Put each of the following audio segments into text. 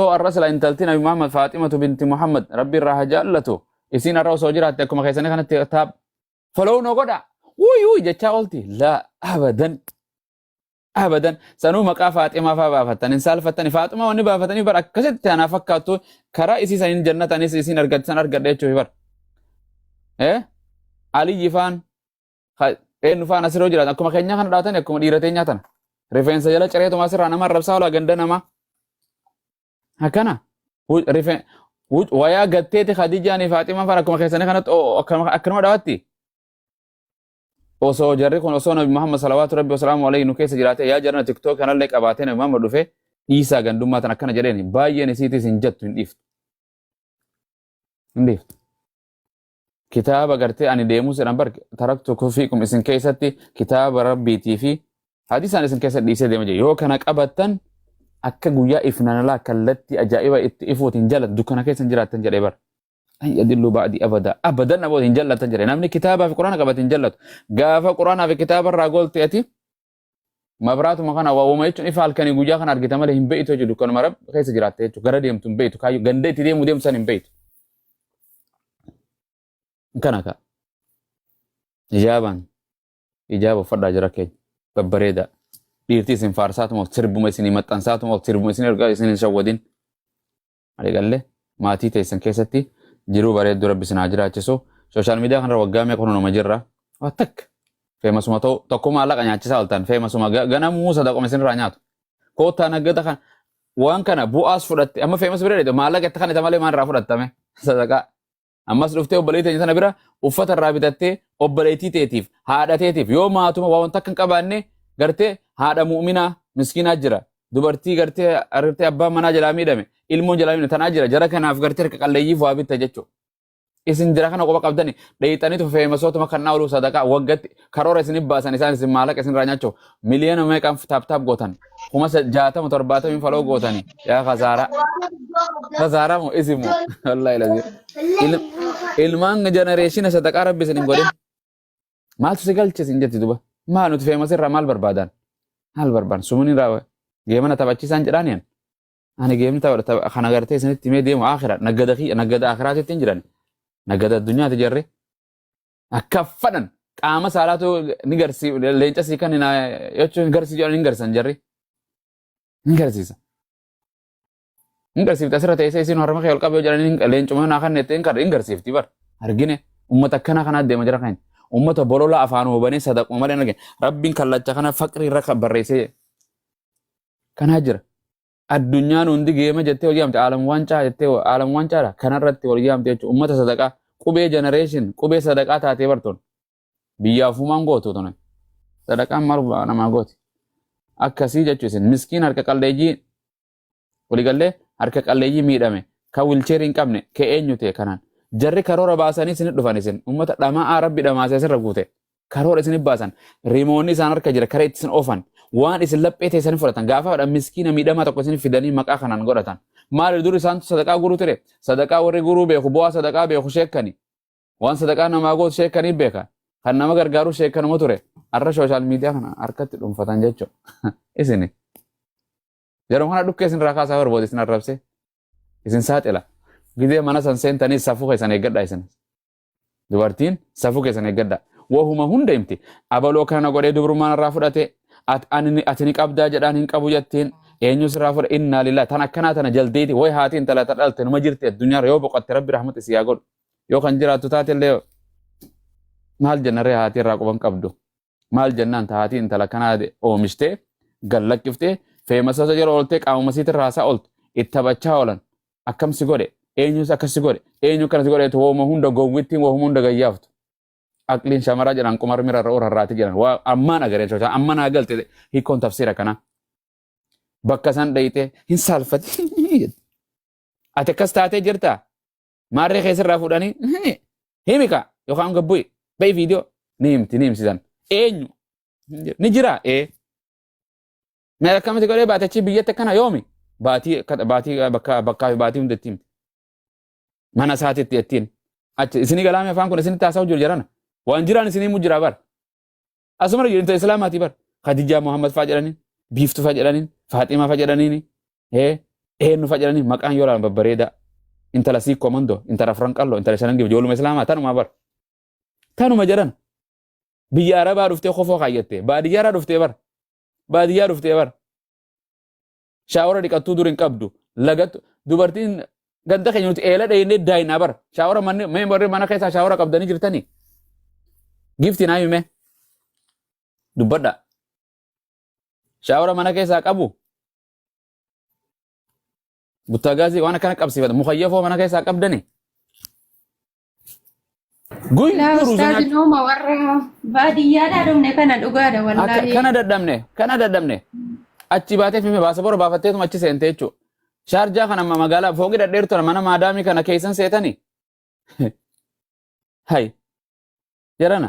Osoo arra sila intalti Nabi Muhammad Faaximatu binti Muhammad Rabbi irraa haa jaallatu. Isiin arra osoo jiraatte akkuma keessanii kanatti taab. Follow no godha. Wuy wuy jechaa oolti. Laa abadan. Abadan. Sanuu maqaa Faaximaa faa baafattan hin saalfattani. Faaxumaa wanni baafatanii bar akkasitti anaa fakkaattu karaa isii saniin jannatanis isiin argattan argadha jechuufi bar. Eh? Aliyyi faan eenyu faan asirra yoo jiraatan akkuma keenyaa kana dhaatan akkuma dhiira teenyaa tana rifeensa jala cireetuma asirraa nama arrabsaa olaa ganda namaa akkana wayaa gatteeti khadijaanii faaximaan faan akkuma keessanii kanatti akkanuma dhaawatti osoo jarri kun osoo nabi muhammad salawaatu rabbi wasalaamu alayhi nu keessa jiraate yaa jarana tiktook kanallee qabaatee nabi muhammad dhufe dhiisaa gandummaa tan akkana jedheen baay'een isiitis hin jattu hin dhiiftu hin dhiiftu kitaaba gartee ani deemus jedhan bar taraktu kufiikum isin keessatti kitaaba rabbiitii fi hadiisaan isin keessa dhiisee deema jira yoo kana qabattan akka guyyaa ifnanalaa kallattii ajaa'iba itti ifuuti hin jaallattu dukkana keessa hin jiraattan jedhee bar an yadillu ba'di abada abadan namoota hin jaallatan jedhe namni kitaabaa fi quraana qabate hin jaallatu gaafa quraanaa fi kitaaba irraa goolte ati Mabraatuma kana waawwama jechuun ifa halkanii guyyaa kana argita malee hin beektu jechuudha dukkanuma rab keessa jiraatte jechuudha gara deemtu hin beektu kaayyoo ganda itti deemu deemtu san hin beektu. Kana kaa ijaabaan ijaaba uffadhaa jira keenya babbareedaa dhiirtii isin faarsaatuma sirbuma isin maxxansaatuma sirbuma isin ergaa isin hin shawwadin Waliigalle maatii teessan keessatti jiruu bareedduu rabbi isin haa jiraachisu. Sooshaal miidiyaa kanarra waggaa meeqa kunuma jirra. Waa takka. Feemasuma ta'u tokko maallaqa nyaachisaa oltan feemasuma ga- ganamuu sadaquma isinirraa nyaatu. Koottaa naggata kan waan kana bu'aas fudhatte amma feemas bira dheedu maallaqa itti kan isa malee maal irraa fudhattame sadaqaa. Ammas dhuftee obboleettii teenya sana bira uffata irraa bitattee obboleettii teetiif haadha teetiif yoo maatuma waa wanta akka hin qabaanne gartee haadha mu'minaa miskiinaa jira. Dubartii gartee argitee abbaan manaa jalaa miidhame ilmoon jalaa miidhame tanaa jira jara kanaaf gartee harka qalleeyyiif waa bitta jechuudha. Isin jira kana qofa qabdani dheeyxaniitu feemasootuma kan naa oluu sadaqaa waggatti karoora isinif baasan isaan isin maallaqa isinirraa nyaachuuf miliyoona meeqaan taap taap gootan kuma sa- jaatama torbaatamiin faloo gootani yaa kasaaraa kasaaraa moo isin moo wallaahi lazii Il- ilmaan jenereeshina sadaqaa rabbi isin hin godhin maaltu si galche isin jetti duba maal nuti feemasirraa maal barbaadan maal barbaadan sumunin raawa geemana taphachiisaan jedhaan yan ani geemni tapha tapha- kana gartee isinitti mee deemu akira naggada kiyya naggada akiraatitti hin jiran naggada addunyaati jarri Akka fadhan qaama saalaatu ni garsi leenca sii kan hinaa jechuun hin garsi jedhan hin garsan jarri. Hin garsiisa. Hin garsiifti asirra teessee isiin harma kee ol qabee jedhan hin- leencuma hinaa kan nettee hin kar- hin garsiifti bar. Argine uummata akkana kanaa deema jira kan. Uummata bolola afaan hubanee sadaquma malee hin argine. Rabbiin kallacha kana faqrii irra kan barreessee kanaa jira. Addunyaan hundi geema jettee wal yaamte aalam waancaa jettee aalam waancaadha kanarratti wal yaamte jechuudha ummata sadaqaa qubee generation qubee sadaqaa taatee bartoon biyyaa ofumaan gootu tuni sadaqaan maal namaa gooti akkasii jechuu isin miskiin harka qalleeyyii waligallee harka qalleeyyii miidhame kan wilcheerii hin qabne kee eenyu ta'e kanaan jarri karoora baasanii isin dhufan isin ummata dhama'aa rabbi dhamaasee sirra guute karoora isin baasan rimoonni isaan harka jira kara ittisin oofan waan isin laphee teessan fudhatan gaafaadha miskiina miidhamaa tokko isin fidanii maqaa kanaan godhatan maali dur isaantu sadaqaa guruu ture sadaqaa warri guruu beeku bu'aa sadaqaa beeku sheekkani waan sadaqaa namaa gootu sheekkanii beeka kan nama gargaaruu sheekkanuma ture har'a sooshaal miidiyaa kana harkatti dhuunfatan jechuudha isini yeroo kana dhukkee isin irraa kaasaa barbaadu isin arrabsee isin saaxila gidee mana san seentanii safuu keessan eeggadha isin Dubartiin safuu keessan eeggadha. Wahuma hunda himti. Abaloo kana godhee dubrummaan irraa fudhate. At, ani, ati ni qabdaa jedhaan hin qabu jettiin. Eenyus irraa fudha innaa lilaa. Tan akkanaa tana jaldeeti. Way haati intala ta dhalte numa jirti addunyaarra yoo boqotte rabbi rahmata isii haa godhu. Yoo kan jiraattu taate illee maal jenna ree haati irraa quban qabdu. Maal jennaan tahaatii intala kanaa oomishtee gad lakkiftee feemasoota jala ooltee qaamuma siitti raasaa ooltu itti taphachaa oolan akkam si godhe eenyus akkas si godhe eenyu akkana si godheetu wooma hunda gowwittiin wooma hunda gayyaaftu. Aqliin shamaraa jedhan qumar mira irra orarraati jedhan waa ammaan agaree tolchaa amma naa galte hiikkoon tafsiira kanaa. Bakka san dhayxee hin saalfati. Ati akkas taatee jirtaa? maarree kee sirraa fuudhanii himi himi kaa yookaan gabbu'i ba'i viidiyoo ni himti ni himsisan eenyu Hin jiru. ni jira ee mee akkamiti godhee baatachii biyyatti akkana yoomi baatii akka- baatii bakka bakkaa fi baatii hundatti himti mana isaatitti jettiin achi isinii galaamee afaan kun isinitti haasa'u jiru jarana waan jiraan isinii mu jira bara Asuma irra jireenya Islaamaati bar. Khadijaa Muhammad faa jedhaniin, Biiftu faa jedhaniin, Faaximaa faa jedhaniin, eenyu faa jedhaniin maqaan yoo ilaalan babbareedaa. Intala sii komandoo, intala afran qalloo, intala shanan gibee, ijooluma Islaamaa tanuma bar. Tanuma jedhan. Biyya Arabaa dhuftee kofoo kaayyattee, baadiyyaarraa dhuftee bar. Baadiyyaa dhuftee bar. Shaawara dhiqattuu dur hin qabdu. Lagattu dubartiin ganda keenya nuti eela dheeynee daayinaa bara. Shaawara manni mee warri mana keessaa shaawara qabdanii jirtanii? Gifti naa himee. Dubbadha. Shaawara mana keessaa qabu. Buttaagaazii waan akkana qabsiifata. Mukayyafoo mana keessaa qabdanii? Guyyuu Laa ruuza ustaazi nyaachuu. nooma warra baadiyyaadhaa dhumne kana dhugaadha Akka wallaahi. kana dadhabne kana dadhabne achi baatee fi baasa bora baafatteetuma achi seentee jechuudha. Shaarjaa kana amma magaalaa fooqii dhadheertu kana mana maadaamii kana keessan seetanii. Hay jarana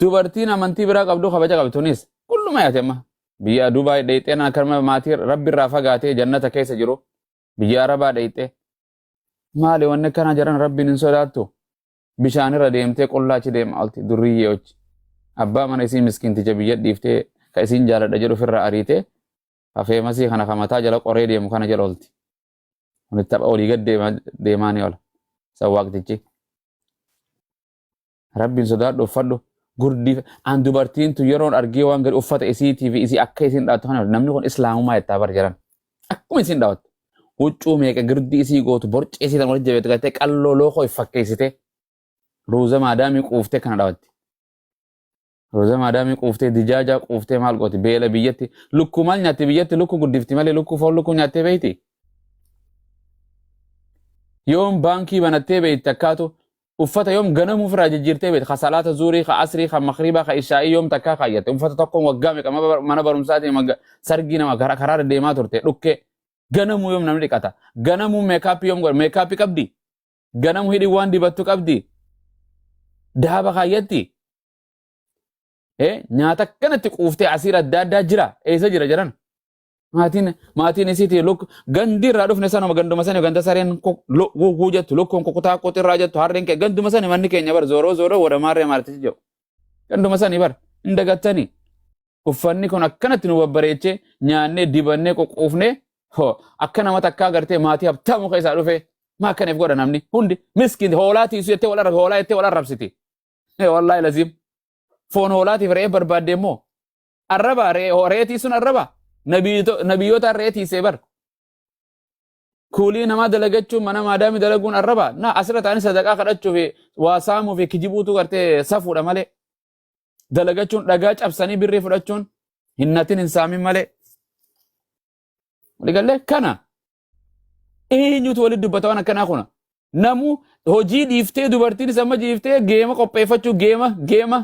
Dubartiin amantii biraa qabdu kabaja qabdi tunis kulluma yaate amma biyya Dubaay dheexxeen akkasuma maatii rabbi irraa fagaatee jannata keessa jiru biyya Arabaa dheexxee maali wanni akkanaa jedhan rabbiin hin sodaattu bishaan irra deemtee qullaa achi deemaa olti durriyyee hojji abbaa mana isii miskiinticha biyya dhiiftee ka isiin jaaladha jedhu ofirraa ariitee hafeemasii kana ka mataa jala qoree deemu kana jala olti kun tapha olii gad deemaa ni ola sawwaaqtichi. Rabbiin sodaadhu uffadhu. Gurdii an dubartiin tun yeroon argee waan gadi uffata isiitii fi isii akka isiin dhaattu kana namni kun islaamumaa jettaa bar jedhan. Akkuma isiin dhaattu. Huccuu meeqa girdii isii gootu borcee isii tan wal jabeetu gattee qalloo lookoo if fakkeessitee ruuza maadaamii quuftee kana dhaatti. Roza maadaamii quuftee dijaajaa quuftee maal gooti beela biyyatti lukkuu maal nyaatti biyyatti lukkuu guddifti malee lukkuu foon lukkuu nyaattee beeyti. Yoom baankii banattee beeytti akkaatu uffata yoom ganama ofirraa jijjiirtee beeytti ka salaata zuurii ka asrii ka makriibaa ka ishaa'ii yoom takkaa kaayyatte uffata tokkoon waggaa meeqa maba- mana barumsaatiin wagga- sargii nama karaa karaa deddeemaa turte dhukkee ganamuu yoom namni dhiqata ganamuu meekaappii yoom godha meekaappii qabdi Ganamu hidhi waan dibattu qabdi. Daaba kaayyatti. Eh, nyaata akkanatti quuftee asiir adda addaa jira. Eessa jira jedhan? Maatiin maatiin isiiti luk gandi irraa dhufne sanuma ganduma sani ganda sareen guguu jettu lukkuun kukutaa qotirraa jettu harreen kee ganduma sani manni keenya bar zooroo zooroo wada maarree maartisi jedhu. Ganduma sani bar hin dagattani. Uffanni kun akkanatti nu babbareechee nyaannee dibannee qoquufnee hoo akka nama takkaa gartee maatii habtamu keessaa dhufee Maa akkana if godha namni hundi miskiin hoolaa tiisu jettee wal arrabsiti hoolaa jettee wal arrabsiti. Eh, Wallaahi laziim foon hoolaatiif re'ee barbaadde immoo arrabaa re'ee re'ee tiisuun arrabaa Nabiito- nabiyyootaan re'ee tiisee bar kuulii namaa dalagachuun mana maadaami dalaguun arrabaa na asirra ta'anii sadaqaa kadhachuu fi waa saamuu fi kijibuutu gartee safuudha malee dalagachuun dhagaa cabsanii birrii fudhachuun hinnatin hin saamin malee. Waliigallee kana Eenyutu walitti dubbata waan akkanaa kuna? Namuu hojii dhiiftee dubartiinis amma dhiiftee geema qopheeffachuu geema geema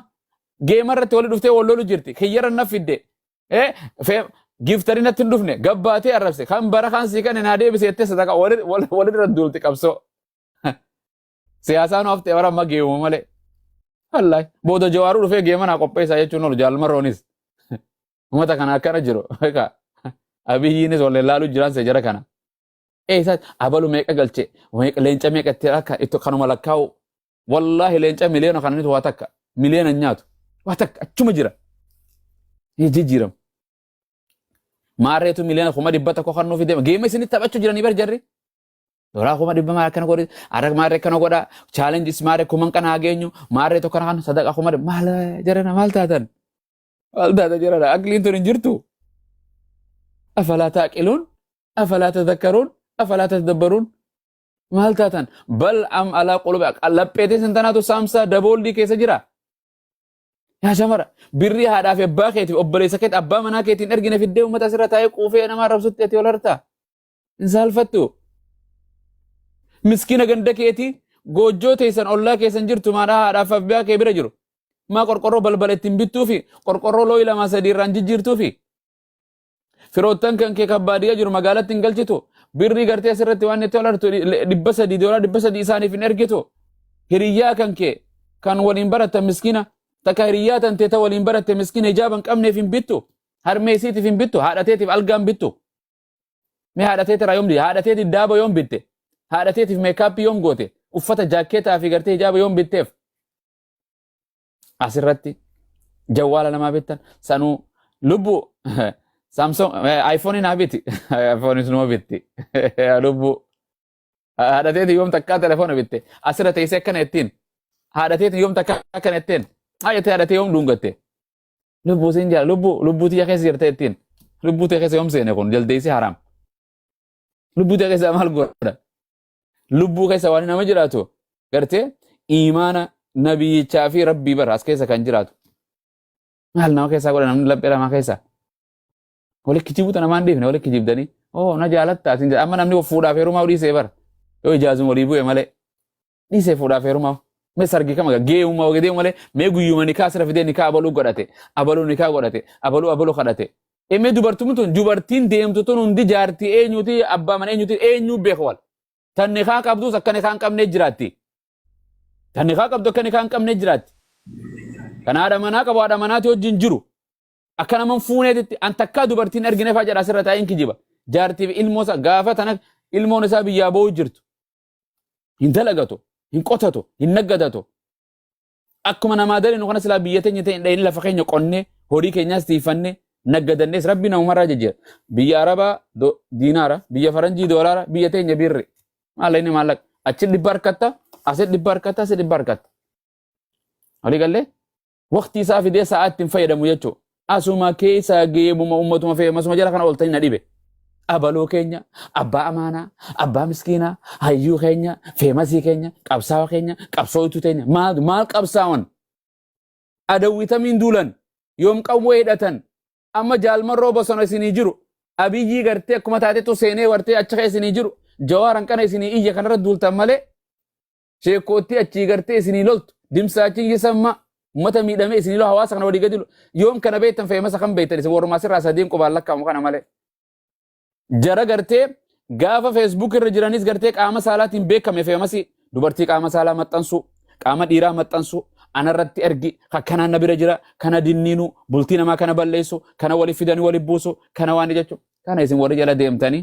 geema irratti walitti dhuftee wal lolu jirti. Kiyyarra na fidde. Eh, fe- Giftari natti hin dhufne gabbaatee arrabse kan bara kan sii kan naa deebise jettee sadaqa walirra duulti qabsoo. Siyaasaan haftee bara amma geemuma malee. Wallahi booda jawaaruu dhufee geema naa qopheessaa jechuun oolu jaalmarroonis. Umata kana akkana jiru. Beekaa. Abiyyiinis wal ilaaluu jiraan isa jara kana. Ee isaa abalu meeqa galche meeqa- leenca meeqa itti akka itti kanuma lakkaa'u. Wallaahi leenca miliyoona kananitu waa takka miliyoona hin nyaatu. Waa takka achuma jira. Ni jijjiiramu. Maarreetu miliyoona kuma dhibba tokko kan nuuf deema. Geema isinitti taphachuu jiranii bar jarri. Doraa kuma dhibba maal akkana godhe arra maarree akkana godha chaalenjis maarree kuman kana haa geenyu maarree tokko kana sadaqa kuma dhibba maal jarana maal taatan. Maal taata jira dha? Aqliin tun hin jirtu. Afalaa taaqiluun, afalaa tadakkaruun, afalaa tadabbaruun. Maal taatan? Bal am alaa qulubi lapheetiin sin tanaatu saamsaa dabooldii keessa jira. Yaa shamara birrii haadhaa fi abbaa keetiif obboleessa keetti abbaa manaa keetiin ergine fiddee uummata asirra taa'ee quufee nama arrabsutti ati ol hartaa. hin saalfattu miskina ganda keetii goojjoo teessan ollaa keessan jirtu maadhaa haadhaaf abbaa kee bira jiru maa qorqorroo balbala ittiin bittuu fi qorqorroo looyi lamaa sadii irraan jijjiirtuu fi firoottan kan kee kan baadiyyaa jiru magaalatti hin galchitu birrii gartee asirratti waan itti olartu dhibba sadii doolaa dhibba sadii isaaniif hin ergitu hiriyyaa kan kee kan waliin baratta miskina takka hiriyyaa tan teeta waliin baratte miskina hijaaba hin qabneef hin bittu harmee isiitiif hin bittu haadha teetiif algaa hin bittu Mee haadha teetirraa yoom didde? Haadha teetiif daaba yoom bitte? Haadha teetiif meekaappii yoom goote? Uffata jaakkeetaa fi gartee hijaaba yoom bitteef? Asirratti jawwaala namaa bittan sanuu lubbu Samsung iPhone naa biti. iPhone numa bitti. Lubbu haadha teetiin yoom takkaa telefoona bitte. Asirra teessee akkana ittiin. Haadha teetiin yoom takkaa akkana ittiin. Haadha tee haadha tee yoom dhuungatte. Lubbuu siin jala lubbuu lubbuu tiyya keessa jirtee ittiin lubbuu tiyya keessa yoom seene kun jaldeessi haraam. Lubbuu tiyya keessa maal godha? Lubbuu keessa waan nama jiraatu gartee imaana nabiyyichaa fi rabbii bara as keessa kan jiraatu. Maal nama keessaa godha namni laphee lamaa keessaa? Wali kijibuu tana maan dhiifne wali kijibdanii oo na jaalatta atiin jedha amma namni fuudhaaf heerumaa dhiisee bara yoo ijaazuma walii bu'e malee. Dhiisee fuudhaaf heerumaa. Mee sargii kam agarra? Geeyuma wagee deemu malee mee guyyuma nikaa asirra fidee nikaa abaluu godhate. Abaluu nikaa godhate. Abaluu abaluu kadhate. Ee mee dubartuun tun dubartiin deemtu tun hundi jaartii eenyuti abbaa mana eenyuti eenyuu beeku wal. Tan nikaa qabduus akka nikaa hin qabnee jiraatti. Tan nikaa qabdu akka nikaa hin qabnee jiraatti. Kan haadha manaa qabu haadha manaati wajjin jiru. Akka naman fuuneetitti an takkaa dubartiin argine faa jedha asirra taa'een kijiba. Jaartiif ilmoo isaa gaafa tana ilmoon isaa biyyaa boo'u jirtu. hin dalagatu hin qotatu hin naggadatu akkuma namaa dalinu kana silaa biyya teenya ta'e hin dhayne lafa keenya qonnee horii keenyaas tiifanne naggadannees rabbi namumarraa jijjiira biyya arabaa do- diinaara biyya faranjii doolaara biyya teenya birri maalla inni maallaqa achi dhibba harkatta asi dhibba harkatta asi dhibba harkatta walii gallee waqtii isaa fidee sa'aa ittiin fayyadamu jechuudha. Asuma keessa geebuma ummatuma feemasuma jala kana ooltanii na dhibe. Abaloo keenya, abbaa amaanaa, abbaa miskiinaa, hayyuu keenya, feemasii keenya, qabsaawa keenya, qabsooytuu teenya maal maal qabsaawan? Adawwitamiin duulan, yoom qawwee hidhatan, amma jaalmarroo bosona isinii jiru, abiyyii gartee akkuma taatetu seenee wartee achi kee isinii jiru, jawaaran kana isinii iyya kanarra duultan malee sheekkoottii achii gartee isinii loltu dimsaachiin yesammaa ummata miidhamee isinii lolu hawaasa kana walii gadi yoom kana beektan feemasa kan beektan isin warrumaa sirraa sadiin qubaan lakkaa'amu kana malee. Jara gartee gaafa feesbuuk irra jiranis gartee qaama saalaatiin beekame feemasi dubartii qaama saalaa maxxansuu qaama dhiiraa maxxansuu anarratti ergi akkanaan na bira jira kana dinniinu bultii namaa kana balleessu kana wali fidanii wali buusu kana waan jechuun kana isin warri jala deemtanii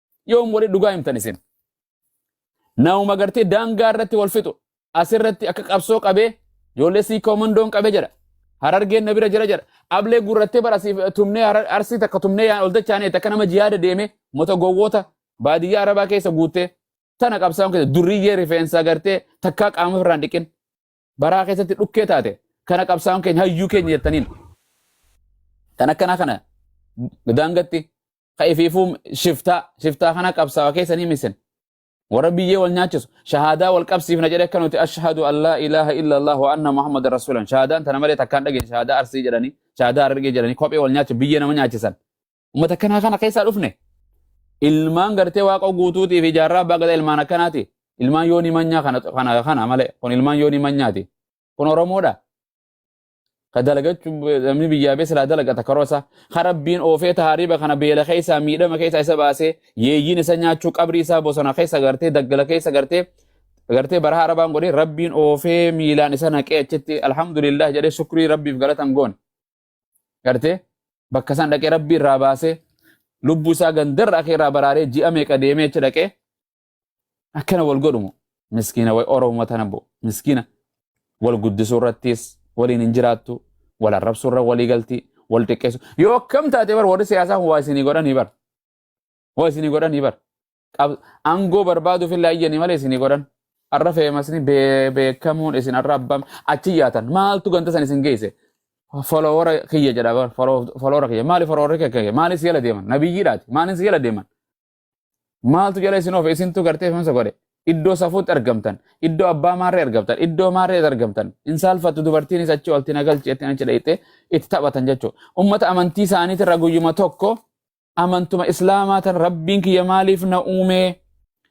Yoom warri dhugaa himtan isin? Nauma gartee daangaa irratti wal fixu. Asirratti akka qabsoo qabee ijoollee sii koomandoon qabe jedha. Harargeen na bira jira jedha. Ablee gurrattee bara siif tumnee harar- arsii takka tumnee yaan ol dachaanee takka nama jihaada deemee mota gowwoota baadiyyaa arabaa keessa guuttee tana qabsaa'uun keessa durriyyee rifeensaa gartee takkaa qaama ofirraan dhiqin. baraa keessatti dhukkee taate kana qabsaa'oon keenya hayyuu keenya jettaniin kan akkanaa kana daangatti ka ifiifuu shiftaa shiftaa kana qabsaawa keessanii misin warra biyyee wal nyaachisu shahaadaa wal qabsiifna jedhe akka nuti ashhadu an laa ilaaha illa allah wa anna muhammada rasuulan shahaadaan tana malee takkaan dhageenye shahaadaa arsii jedhanii shahaadaa argee jedhanii kophee wal nyaachisu biyyee nama nyaachisan Ummata akkanaa kana keessaa dhufne. Ilmaan gartee waaqa guutuutii fi jaarraa abbaa gadaa ilmaan akkanaati. Ilmaan yoonii manyaa kana kana kana malee kun ilmaan yoonii manyaati. Kun Oromoodha. Ka dalagachu namni biyyaa bee silaa dalagata karoo isaa. Ka rabbiin oofee taariiba kana beela keessaa miidhama keessaa isa baasee yeeyyiin isa nyaachuu qabrii isaa bosona keessa gartee daggala keessa gartee gartee bara harabaan godhee rabbiin oofee miilaan isa naqee achitti alhamdulillah jedhee shukrii rabbiif galatan goone. gartee bakka isaan dhaqee rabbii irraa baasee lubbuu isaa gandarra akee irraa baraaree ji'a meeqa deemee achi dhaqee akkana wal godhumu miskiina way oromoo tana bo miskiina wal guddisuu irrattis waliin hin jiraattu wal arrabsuu irra walii galti wal xiqqeessu yoo akkam taate bar warri siyaasaa kun waa isinii godhanii bar Waa isinii godhanii bar. Qab- Aangoo barbaaduuf illee ayyanii malee isinii godhan. Har'a feemasni bee- beekamuun isin har'a abbaan achi yaatan maaltu ganta san isin geesse? Foloowara kiyya jedha bar foloo- foloowara kiyya maali foloowara kiyya kiyya maali si jala deeman nabiyyiidhaati maali si jala deeman maaltu jala isin oofe isintu gartee feemsa godhe iddoo safuutti argamtan iddoo abbaa maarree argamtan iddoo maarree argamtan hin saalfattu dubartiinis achi olti nagalchi jettiin achi dhayxee itti taphatan jechuudha ummata amantii isaaniitirra guyyuma tokko amantuma islaamaa tan rabbiin kiyya maaliif na uume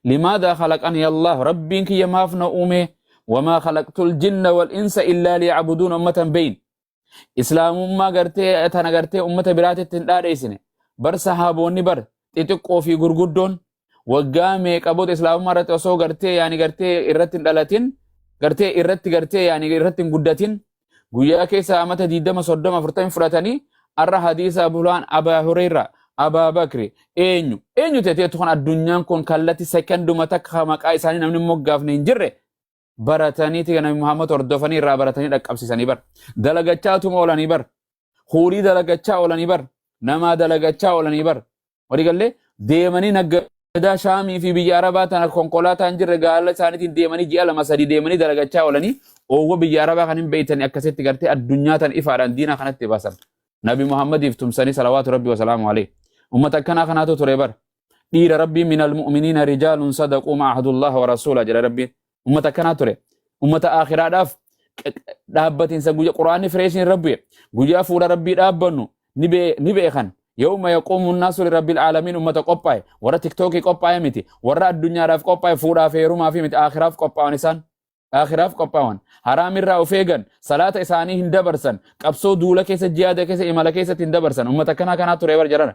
limaadaa khalaqanii allah rabbiin kiyya maaf na uume wamaa khalaqtul jinna wal insa illaa liyacbuduun ummatan beyin islaamummaa gartee tana gartee ummata biraatitti hin dhaadheessine bar sahaaboonni bar xixiqqoo fi gurguddoon waggaa meeqa booda islaamummaa irratti osoo gartee yaani gartee irratti hin dhalatin gartee irratti gartee yaani irratti hin guddatin guyyaa keessa amata 20 30 40 fudhatanii arra hadiisa abulaan abaa hureyra abaa bakri eenyu eenyu teteetu kan addunyaan kun kallatti sekonduma takka maqaa isaanii namni moggaafne hin jirre barataniiti nabi Muhammad hordofanii irraa baratanii dhaqqabsiisanii bar dalagachaa tuma oolanii bar huurii dalagachaa oolanii bar namaa dalagachaa oolanii bar walii gallee deemanii naggadaa shaamii fi biyya arabaa tana konkolaataa hin jirre gaala isaaniitiin deemanii ji'a lama sadii deemanii dalagachaa oolanii oowwa biyya arabaa kan hin beeytanii akkasitti gartee addunyaa tan ifaadhaan diinaa kanatti baasan nabi Muhammadiif tumsanii salawaatu rabbi wasalaamu alee ummata akkanaa kanaatu ture bar dhiira rabbiin min almu'miniina rijaalun sadaquu ma ahadullah wa rasuula jedha rabbiin ummata akkanaa ture ummata aakhiraadhaaf dhaabbatinsa guyya quraanni fireeshin rabbi guyyaa fuula rabbii dhaabbannu ni beekan yawma yaquumu nnaasu lirabbil aalamiin ummata qophaa'e warra tiktookii qophaa'e miti warra addunyaadhaaf qophaa'e fuudhaaf heerumaa fi miti aakhiraaf qophaa'an isaan aakhiraaf qophaa'an haraamirraa of eegan salaata isaanii hin dabarsan qabsoo duula keessa jihaada keessa imala keessatti hin dabarsan ummata akkanaa kanaa ture bar jedhana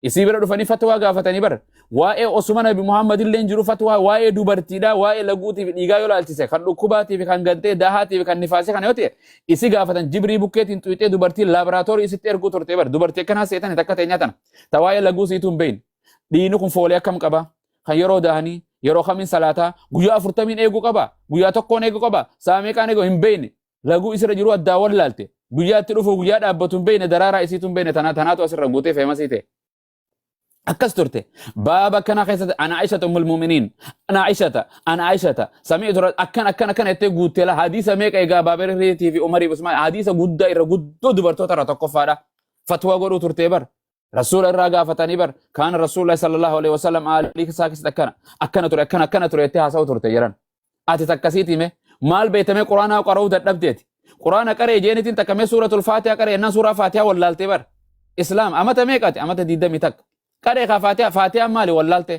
Isii bira dhufanii fatwaa gaafatanii bara. Waa'ee Osuma Nabi Muhammad illee jiru fatwaa waa'ee dubartiidhaa waa'ee laguutii fi dhiigaa yoo laalchise kan dhukkubaatii fi kan gantee daahaatii fi kan nifaasee kana yoo ta'e isi gaafatan jibrii bukkeetiin xuyxee dubartii laaboraatoorii isitti erguu turte bara dubartii akkanaa seetan takka ta'e nyaatan ta waa'ee laguu siituu hin beeyne. Dhiini kun foolee akkam qaba kan yeroo daahanii yeroo kamiin salaataa guyyaa afurtamiin eeguu qaba guyyaa tokkoon eeguu qaba saamee qaan eeguu hin beeyne laguu isirra jiruu addaa wallaalte guyyaa itti dhufuuf guyyaa dhaabbatu hin beekne daraaraa isiitu hin beekne tanaa tanaatu asirra guutee feemasii ta'e. akkas turte baaba kana keessatti ana aishata ummul muuminiin ana aishata ana aishata samii tura akkan akkan akkan jettee guuttee la hadiisa meeqa egaa baabiriitii fi umarii fi usmaan hadiisa guddaa irra guddoo dubartoota irra tokkoffaadha fatwaa godhuu turtee bar Rasuula irraa gaafatanii bar kaana Rasuullah sallallahu alaihi wasallam aalii isaa keessatti akkana akkana ture akkana akkana ture itti haasa'u turte jedhan. Ati takkasiiti mee maal beekamee quraanaa qara'uu dadhabdeeti. Quraana qaree jeenitiin takkamee suuratul faatiha qaree ennaa suuraa faatiha wallaaltee bar. Islaam amata meeqati amata diidamii takka. Qaree kaa faatiha faatiha maali wallaaltee.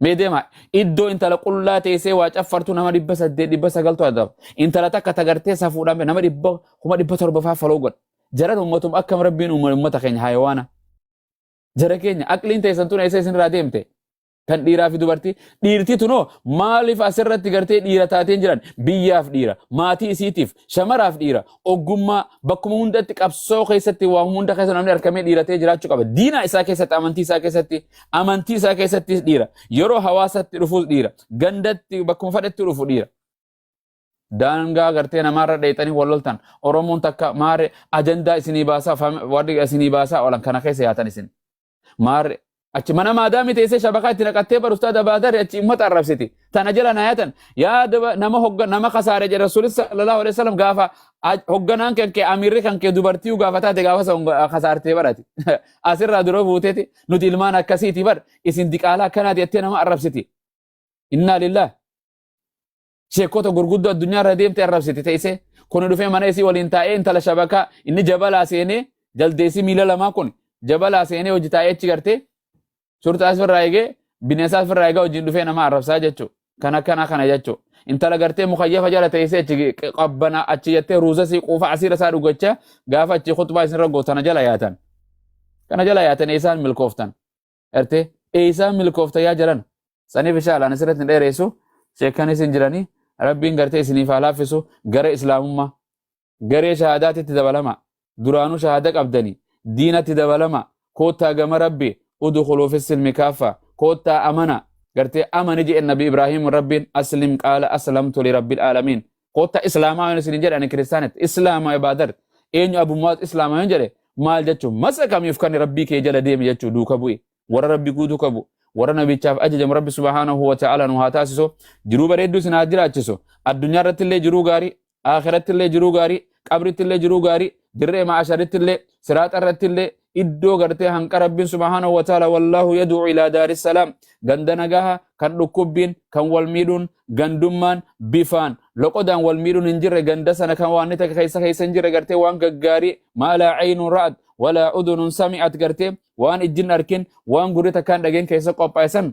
Mee deemaa iddoo intala qullaa teessee waa caffartu nama dhibba saddeet dhibba sagaltu adaba. Intala takka tagartee safuudhaan nama dhibba kuma dhibba torba fa'aa faloo godha. Jaran uummatum akkam rabbiin uumame uummata keenya hayawaana. Jara keenya aqliin teessan tun eessa isinirraa deemte? Kan dhiiraa fi dubartii dhiirti tunoo maaliif asirratti gartee dhiira taateen jiran biyyaaf dhiira maatii isiitiif shamaraaf dhiira oggummaa bakkuma hundatti qabsoo keessatti waa hunda keessa namni harkamee dhiiratee jiraachuu qaba. Diina isaa keessatti amantii isaa keessatti amantii isaa keessattis dhiira. Yeroo hawaasatti dhufuus dhiira. Gandatti bakkuma fadhatti dhufu dhiira. Daangaa gartee namaarra dheexanii wal loltan Oromoon takka maare ajandaa isinii baasaa warri isinii baasaa oolan kana keessa yaatan isin. Maarre achi mana maadaamii teessee shabakaa itti naqattee bar ustaada baadarri achi ummata arrabsiti. Tana jala naayatan yaa daba- nama hogga nama kasaare jedhe rasuulis sallallahu alaihi wasallam gaafa aj- hogganaan kan kee amiirri kan kee dubartii gaafa taate gaafa san go- kasaartee barati. Asirraa dura buuteeti nuti ilmaan akkasiiti bar isin diqaalaa akkanaati jettee nama arrabsiti. Innaa lillah. sheekota gurguddoo addunyaa irra deemte arrabsiti teessee kuni dhufee mana isii waliin taa'ee intala shabakaa inni jabalaa seenee jaldeessi miila lamaa kun jabalaa seenee hojii taa'ee achi gartee shurxaas firraa eegee bineensaas firraa eegaa hojiin dhufee nama arrabsaa jechuu kan akkanaa kana jechuu intala gartee mukayyafa jala teessee achi qabbana achi jettee ruuza sii quufa asiira isaa dhugachaa gaafa achi khutbaa isinirra gootana jala yaatan kana jala yaatan eessaan milkooftan gartee eeysaan milkoofta yaa jalan saniif insha Allah asirratti hin dheereessu sheekan isin jiranii rabbiin gartee isiniif haa laaffisu gara islaamummaa garee shahaadaatitti dabalama duraanuu shahaada qabdanii diinatti dabalama koottaa gama rabbi udkhuluu fi silmi kaaffa koottaa amana gartee amani jedhe nabi ibraahiim rabbiin aslim qaala aslamtu li rabbil aalamiin Kotta Islaamaa yoon isin jedhe ani kiristaanatti Islaamaa ibaadar eenyu Abu Mu'aaz Islaamaa yoon jedhe maal jechuun masa kamiif kan rabbii kee jala deeme jechuu duuka bu'i warra rabbi guutuu qabu warra nabichaaf ajajamu rabbi subhaanahu wa ta'ala nu haa taasisu jiruu bareedduu isin haa jiraachisu addunyaa irratti illee jiruu gaarii akhiratti illee jiruu gaarii qabritti illee jiruu gaarii dirree ma'asharitti illee siraaxa irratti illee iddoo gartee hanqa rabbiin subhaanahu wa ta'ala wallaahu yad'u ilaa daari salaam ganda nagaha kan dhukkubbiin kan wal miidhuun gandummaan bifaan loqodaan wal miidhuun hin jirre ganda sana kan waan ni takka keessa keessa hin jirre gartee waan gaggaarii maalaa caynuun ra'at walaa udunun sami'at gartee waan ijjin arkin waan gurri takkaan dhageen keessa qophaa'e san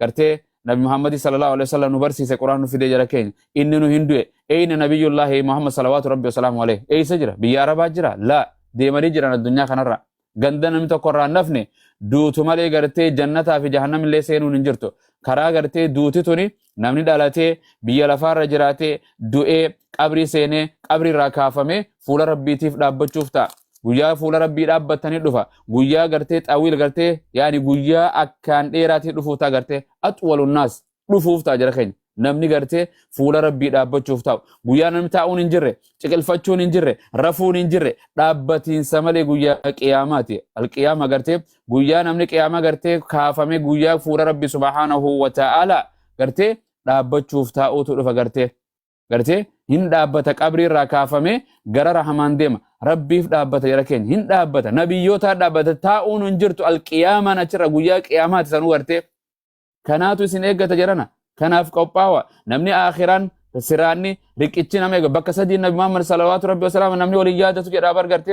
gartee nabi muhammadi sallallahu alaihi wasallam nu barsiise quraan nu fidee jara keenya inni nu hin du'e eyna nabiyullaahi muhammad salawaatu rabbi wasalaamu alaihi eysa jira biyya arabaa jira laa deemanii jiran addunyaa kanarra ganda namni tokko irraa hin hafne duutu malee gartee jannataa fi jahannam illee seenuun hin jirtu karaa gartee duuti tuni namni dhalatee biyya lafaarra jiraatee du'ee qabrii seenee qabrii irraa kaafamee fuula rabbiitiif dhaabbachuuf ta'a guyyaa fuula rabbii dhaabbattanii dhufa guyyaa gartee xawiil gartee yaani guyyaa akkaan dheeraatii dhufuuf ta'a gartee axwalu naas dhufuuf ta'a jara keenya namni gartee fuula rabbii dhaabbachuuf taa'u guyyaa namni taa'uun hin jirre ciqilfachuun hin jirre rafuun hin jirre dhaabbatiinsa malee guyyaa qiyaamaati alqiyaama gartee guyyaa namni qiyaamaa gartee kaafame guyyaa fuula rabbii subhaanahu wa ta'aala gartee dhaabbachuuf taa'uutu dhufa gartee gartee hin dhaabbata qabrii irraa kaafamee gara rahamaan deema rabbiif dhaabbata jara keenya hin dhaabbata nabiyyootaa dhaabbata taa'uun hin jirtu alqiyaamaan achirra guyyaa qiyaamaati sanuu gartee kanaatu isin eeggata jarana kanaaf qophaawa namni aakiraan siraanni riqichi nama eega bakka sadii nabi muhammad salawaatu rabbi wasalaama namni waliin yaadatu jedhaa bargarte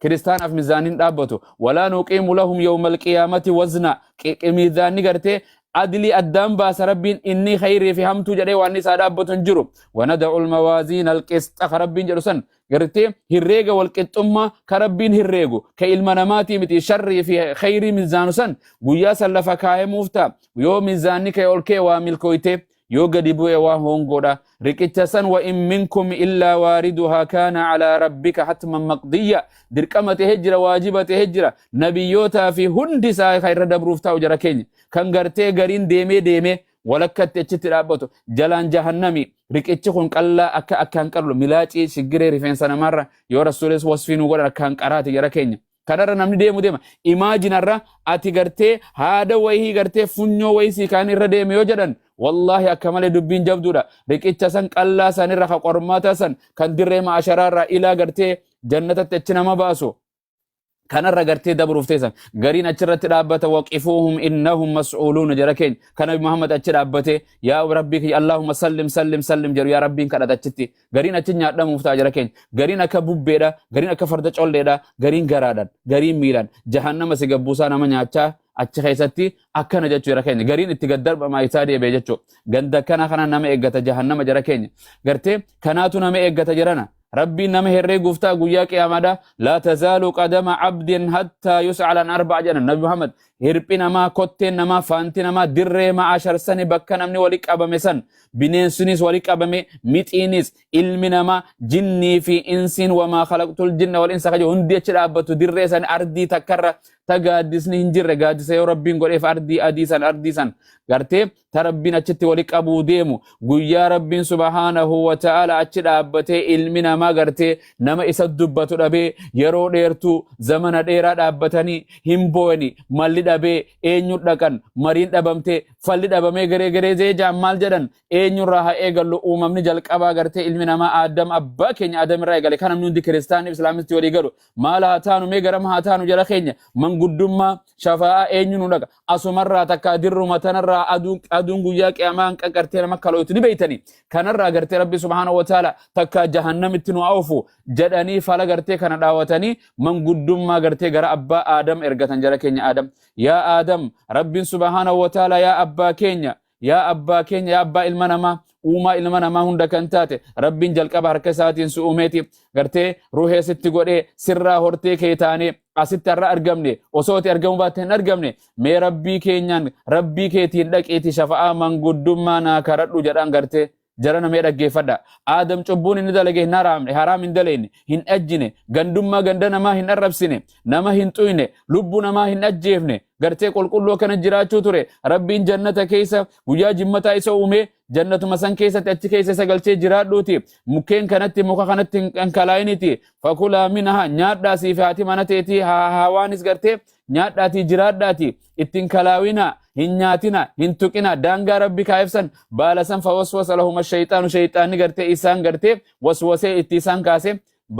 kiristaanaaf mizaaniin dhaabbatu walaa nuqiimu lahum yawmal qiyaamati wazna mizaanni gartee adilii addaan baasa rabbiin inni khayrii fi hamtuu jedhee waan isaa dhaabbatu hin jiru wanada'u almawaaziin alqisxa ka rabbiin jedhu san gartee hirreega walqixxummaa ka rabbiin hirreegu ka ilma namaatii miti sharrii fi khayrii mizaanu san guyyaa san lafa kaayamuuf ta'a yoo mizaanni kee ol kee waa milkooytee yoo gadi bu'e waa hoongoodha riqicha san wa in minkum illaa waariduhaa kaana calaa rabbika hatman maqdiyya dirqama ta'e jira waajiba ta'e jira nabiyyootaa fi hundi isaa kan irra dabruuf taa'u jara keenya kan gartee gariin deemee deemee walakkatti achitti dhaabbatu jalaan jahannami riqichi kun qallaa akka akkaan qallu milaacii shiggiree rifeensa namaarra yoo rasuulis wasfii nu godhan akkaan qaraati jara keenya kanarra namni deemu deema imaajinarra ati gartee haada wayii gartee funyoo wayii sii kaan irra deeme yoo jedhan wallaahi akka malee dubbiin jabduudha riqicha san qallaa san irra ka qormaataa san kan dirree maasharaa irraa ilaa gartee jannatatti achi nama baasu kanarra gartee dabruuf teessan gariin achirratti dhaabbata waqifuuhum innahum mas'uuluuna jara keenya kana muhammad achi dhaabbate yaa rabbii kiyya allahumma sallim sallim sallim jedhu yaa rabbiin kadhata achitti Gariin achi nyaadhamuuf ta'a jara keenya. Gariin akka bubbeedha, gariin akka farda colleedha, gariin garaadhaan, gariin miilaan. Jahannama si gabbuusaa nama nyaachaa achi keessatti akkana jechuu jara keenya. Gariin itti gad darbamaa isaa deebi'e jechuu. Ganda akkana kana nama eeggata jahannama jara keenya. Gartee kanaatu nama eeggata jirana. Rabbiin nama herreeguuf ta'a guyyaa qiyaamaadha. Laa tazaalu qadama abdin hattaa yus'alan arba'a jedhan Nabi Muhammad. Hirphi namaa, kotteen namaa, faanti namaa dirree ma'ashar sani bakka namni wali qabame san bineensinis wali qabame, mixiinis, ilmi namaa, jinnii fi insiin wamaa khalaqtul jinna wal insa kaje hundi achi dhaabbatu dirree san ardii takkarra ta gaaddisni hin jirre gaaddisa yoo rabbiin godheef ardii adii san ardii san gartee ta rabbiin achitti wali qabuu deemu guyyaa rabbiin subhaanahu wa ta'ala achi dhaabbatee ilmi namaa gartee nama isa dubbatu dhabee yeroo dheertuu zamana dheeraa dhaabbatanii hin boo'ani malli dhabee eenyu dhaqan mariin dhabamtee falli dhabamee garee garee zeejaan maal jedhan eenyurraa haa eegallu uumamni jalqabaa gartee ilmi namaa aadam abbaa keenya aadamirraa eegale kan namni hundi kiristaanni islaamisti walii galu maal haa taanu mee garam haa taanu jala keenya manguddummaa shafaa'aa eenyu nu dhaqa asumarraa takka dirruma tanarraa aduun aduun guyyaa qiyaamaa hin qaqartee nama kalootu ni beeytani kanarraa gartee rabbi subhaanahu wa ta'ala takka jahannamitti nu oofu jedhanii fala gartee kana dhaawatanii manguddummaa gartee gara abbaa aadam ergatan jara keenya aadam yaa aadam rabbiin subhaanahu wa ta'ala yaa abbaa keenya Yaa abbaa keenya, yaa abbaa ilma namaa, uumaa ilma namaa hunda kan taate, Rabbiin jalqaba harka isaatiin si uumeeti, gartee ruhee sitti godhee, sirraa hortee kee taanee, asitti har'a argamne, osoo ati argamuu baatte hin argamne, mee Rabbii keenyaan, Rabbii keetiin dhaqiiti shafa'aa manguddummaa naa karadhu jedhaan gartee Jarana mee dhaggeeffadha. Aadam cubbuun inni dalage hin haraamne, haraam hin daleyne, hin dhajjine, gandummaa ganda namaa hin arrabsine, nama hin xuyne, lubbu namaa hin ajjeefne, gartee qulqulluu akkana jiraachuu ture. Rabbiin jannata keessa guyyaa jimmataa isa uumee jannatuma san keessatti achi keessa isa galchee jiraadhuuti. Mukkeen kanatti muka kanatti hin dhankalaa'initi. Fakulaa minaha nyaadhaa siif haati mana teetii haa hawaanis gartee nyaadhaatii jiraadhaati. ittin kalaawina hin nyaatina hin tuqina daangaa rabbi kaayefsan baala san fawaswasa lahuma shayxaanu shayxaanni gartee isaan gartee waswasee itti isaan kaase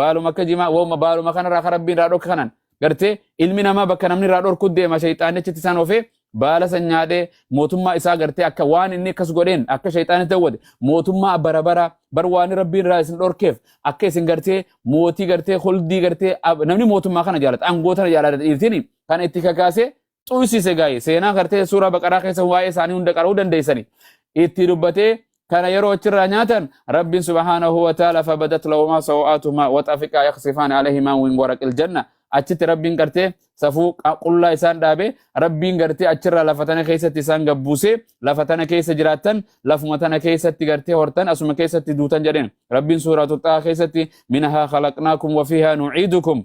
baaluma akka jimaa woma baaluma kanarraa ka rabbiin irraa dhorka kanan gartee ilmi namaa bakka namni irraa dhorku deema shayxaannichitti isaan ofee baala san nyaadhee mootummaa isaa gartee akka waan inni akkas godheen akka shayxaanni ta'uwwate mootummaa bara bara bar waan rabbiin irraa isin dhorkeef akka isin gartee mootii gartee huldii gartee namni mootummaa kana jaalata aangoo tana jaalata dhiirtini kana itti kakaasee xuysise gaa'e seenaa gartee suuraa baqaraa keessa waa'ee isaanii hunda qara'uu dandeessani itti dubbatee kana yeroo achirraa nyaatan rabbiin subhaanahu wa ta'ala fabadat lahumaa sawa'aatumaa waxafiqaa yaqsifaan alayhimaa min waraqil janna achitti rabbiin gartee safuu qullaa isaan dhaabe rabbiin gartee achirraa lafa tana keessatti isaan gabbuusee lafa tana keessa jiraattan lafuma tana keessatti gartee hortan asuma keessatti duutan jedheen rabbiin suuraa tuxaa keessatti minahaa khalaqnaakum wafiihaa nuciidukum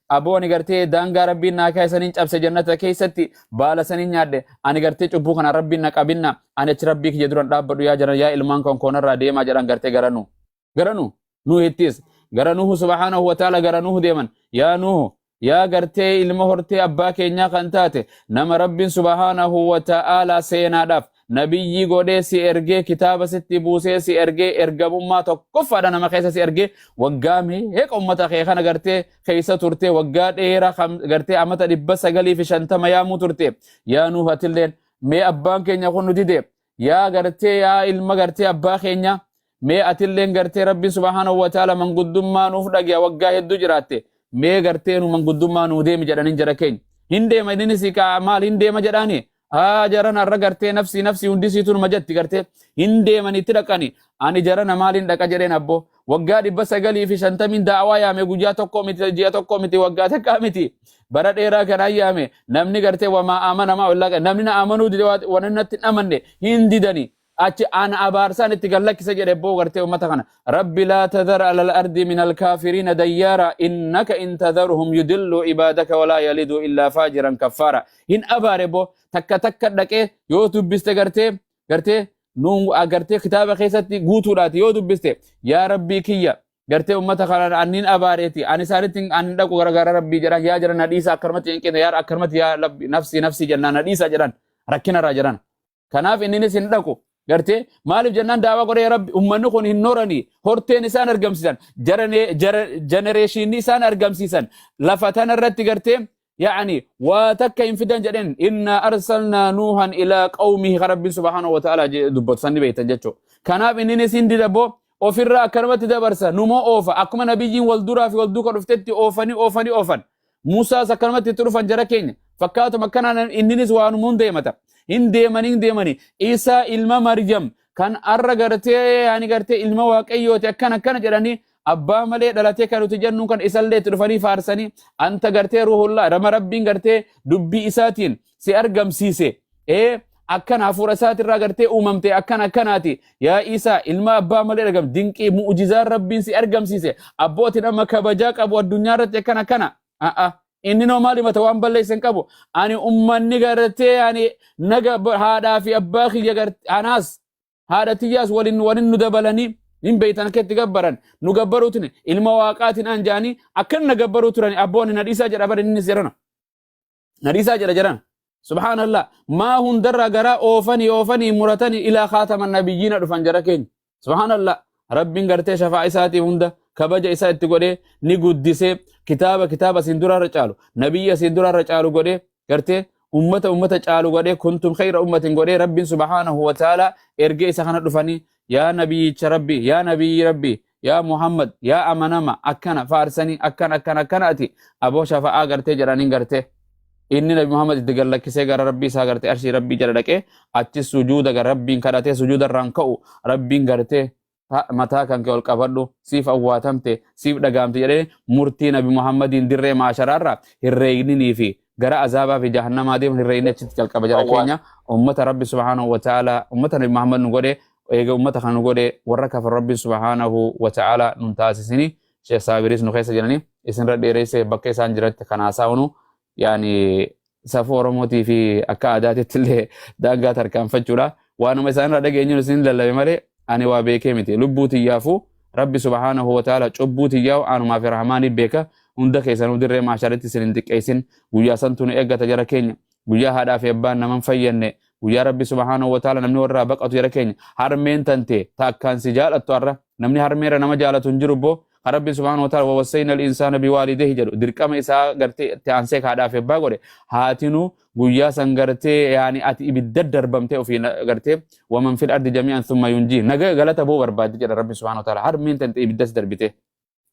Aboo ani gartee daangaa rabbiin naa kaa'e saniin cabse jannata keessatti baala saniin nyaadhe ani gartee cubbuu kana rabbiin na qabinna ani achi rabbii kiyya duran dhaabbadhu yaa jaran yaa ilmaan koon koonarraa deemaa jedhan gartee gara nuu gara nuu nuuhittis gara nuuhu subhaanahu wa ta'ala gara nuuhu deeman yaa nuuhu yaa gartee ilma hortee abbaa keenyaa kan taate nama rabbiin subhaanahu wa ta'ala seenaadhaaf Nabiyyii godhee si ergee, kitaaba sitti buusee si ergee, ergamummaa tokkoffaadha nama keessa si ergee, waggaa meeqa ummata kee kana gartee keessa turtee, waggaa dheeraa kan gartee amata dhibba sagalii fi shantama yaamuu turte. Yaa Nuuh atilleen mee abbaan keenya kun nu dide, yaa gartee yaa ilma gartee abbaa keenya, Mee atilleen gartee Rabbiin subhaanahu wa ta'aala manguddummaa nuuf dhage'a waggaa hedduu jiraatte mee gartee nu manguddummaa nuu deemi jedhaniin jara keenya. Hin deema inni si ka'a maal hin deema jedhaani haa jaran har'a gartee nafsii nafsii hundi siitu numa jatti gartee hin deeman itti dhaqani ani jarana maaliin dhaqa jedheen abboo waggaa dhibba sagalii fi shantamiin daawaa yaame guyyaa tokkoo miti ji'a tokkoo miti waggaa takkaa miti bara dheeraa kanaan yaame namni gartee wamaa amanamaa ollaa namni na amanuu dide waan inni natti hin amanne hin didani achi ana abaarsaan itti gad lakkisa jedhe boo gartee ummata kana rabbi laa tadhar alal ardi min alkaafiriina dayyaara innaka in tadharhum yudilluu ibaadaka walaa yaliduu illaa faajiran kaffaara hin abaare boo takka takka dhaqee yoo dubbiste gartee gartee nuun gartee kitaaba keessatti guutuudhaati yoo dubbiste yaa rabbii kiyya gartee ummata kana anniin abaareeti ani isaanitti an hin dhaqu garagaara rabbii jedhan yaa jedhan na dhiisa akkanumatti hin qine yaa akkanumatti yaa rabbi nafsii nafsii jennaan na dhiisa jedhan rakkinarraa jedhan Kanaaf inninis hin dhaqu. Gartee maaliif jennaan daawaa godhee yaa rabbi ummanni kun hin horanii horteen isaan argamsiisan jarane- jara- jenereeshinii isaan argamsiisan lafa tana irratti gartee yaani waa takka hin fidan jedheen innaa arsalnaa nuuhan ilaa qawmihi ka rabbiin subhaanahu wa ta'aalaa jedhe dubbatu sanni beektan jechuu kanaaf inninis hin didaboo ofirraa akkanumatti dabarsa numoo oofa akkuma nabiyyiin wal duraa fi wal duuka dhuftetti oofanii oofanii oofan Muusaas akkanumatti itti dhufan jara keenya. Fakkaatuma akkanaan inninis waanuma hunda himata. Hin deemanii hin deemanii. Isaa ilma Maryam kan har'a gartee yaani gartee ilma waaqayyooti akkana akkana jedhanii abbaa malee dhalatee kan nuti jennu kan isallee itti dhufanii faarsanii anta gartee ruhullaa rama rabbiin gartee dubbii isaatiin si argamsiise ee akkan hafuura isaatirraa gartee uumamte akkan akkanaati yaa isaa ilma abbaa malee argam dinqii mu'ujizaan rabbiin si argamsiise abbootiin amma kabajaa qabu addunyaa irratti akkan akkana a'a inni noo maal himata waan balleessan qabu ani ummanni gartee ani naga haadhaa fi abbaa kiyya gartee anaas haadha tiyyaas waliin waliin nu dabalanii hin beeytan akkatti gabbaran nu gabbaruutin ilma waaqaatiin aan jaanii akkan na gabbaruu turan abboonni na dhiisaa jedha bari inni seerana na dhiisaa jedha jedhan subhaanallah maa hundarraa garaa oofanii oofanii muratanii ilaa kaatama nabiyyiina dhufan jara keenya subhaanallah rabbiin gartee shafaa isaatii hunda kabaja isaa itti godhee ni guddisee kitaaba kitaaba isin duraarra caalu nabiyya isin duraarra caalu godhee gartee ummata ummata caalu godhee kuntum khayra ummatin godhee rabbiin subhaanahu wa ta'ala ergee isa kana dhufanii yaa nabiyyicha rabbi yaa nabiyyi rabbi yaa muhammad yaa amanama akkana faarsanii akkana akkana akkana ati aboo shafa'aa gartee jedhaniin gartee inni nabi muhammad itti gallakkisee gara rabbii isaa gartee arshii rabbii jala dhaqee achi sujuuda gara rabbiin kadhatee sujuuda irraan ka'u rabbiin gartee ta- mataa kan kee ol qabadhu siif awwaatamte siif dhagaamte jedhee murtii nabi muhammadiin dirree maasharaarra hin reegninii fi gara azaabaa fi jahannamaa deeman irra inni achitti calqaba jara Awwaal. keenya ummata rabbi subhaanahu wa ta'ala ummata nabi muhammad nu godhe eega ummata kan nu godhe warra kafar rabbi subhaanahu wa ta'ala nun taasisini sheekh saabiris nu keessa jirani isinirra dheereyse bakka isaan jiratti kan haasaa'unu yaani safuu oromootii fi akka aadaatitti illee daangaa tarkaanfachuudha waanuma isaanirra dhageenyuun isin lallabe malee ani waa beekee miti lubbuu tiyyaafuu rabbi subhaanahu wa ta'ala cubbuu tiyyaa aanumaa fi rahmaanii beeka hunda keessanuu dirree maasharitti isin hin xiqqeessin guyyaa santu nu eeggata jara keenya guyyaa haadhaa fi abbaan naman fayyanne guyyaa rabbi subhaanahu wa ta'ala namni warraa baqatu jara keenya harmeen tante ta akkaan si jaalattu arra namni harmeera nama jaalatu hin jiru boo kan rabbi subhaanahu wa ta'ala wawassayna al-insaana biwaalideehi jedhu dirqama isaa gartee itti aansee haadhaa fi abbaa godhe haatinuu guyyaa san gartee yaani ati ibidda darbamtee ofii na- gartee waman fil ardi jami'an thumma yunjii naga galata boo barbaaddi jedha rabbi subhaanahu wa ta'ala harmeen tante ibiddas darbitee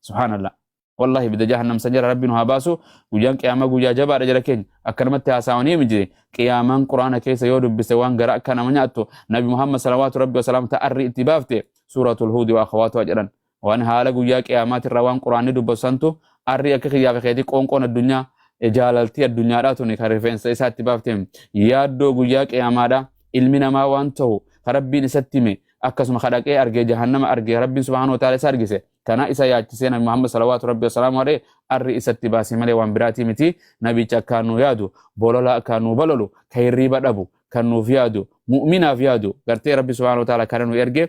subhaanallah wallahi ibidda jahannam san jala rabbi nu haa baasu guyyaan qiyaamaa guyyaa jabaadha jala keenya akkanumatti haasawanii miti qiyaamaan quraana keessa yoo dubbiste waan gara akka nama nyaattu nabi muhammad salawaatu rabbi wasalaamu ta'arri itti baafte suuratul huudi wa akhawaatuha jedhan Waan haala guyyaa qiyaamaati irraa waan quraanni dubbatu santu arrii akka kiyyaa fi keetii qoonqoon addunyaa jaalaltii addunyaadhaa tuni kan rifeensa isaa itti baafte yaaddoo guyyaa qiyaamaadhaa ilmi namaa waan ta'u ka rabbiin isatti hime akkasuma ka dhaqee argee jahannama argee rabbiin subhaanahu wa ta'ala isa argise kana isa yaachisee nabi Muhammad salawaatu rabbi wasalaamu alee arri isatti baasee malee waan biraatii miti nabicha akkaan nu yaadu bolola akkaan nu balolu ka hirriiba dhabu kan nuuf yaadu mu'minaaf yaadu gartee rabbi subhaanahu wa ta'ala kana nu erge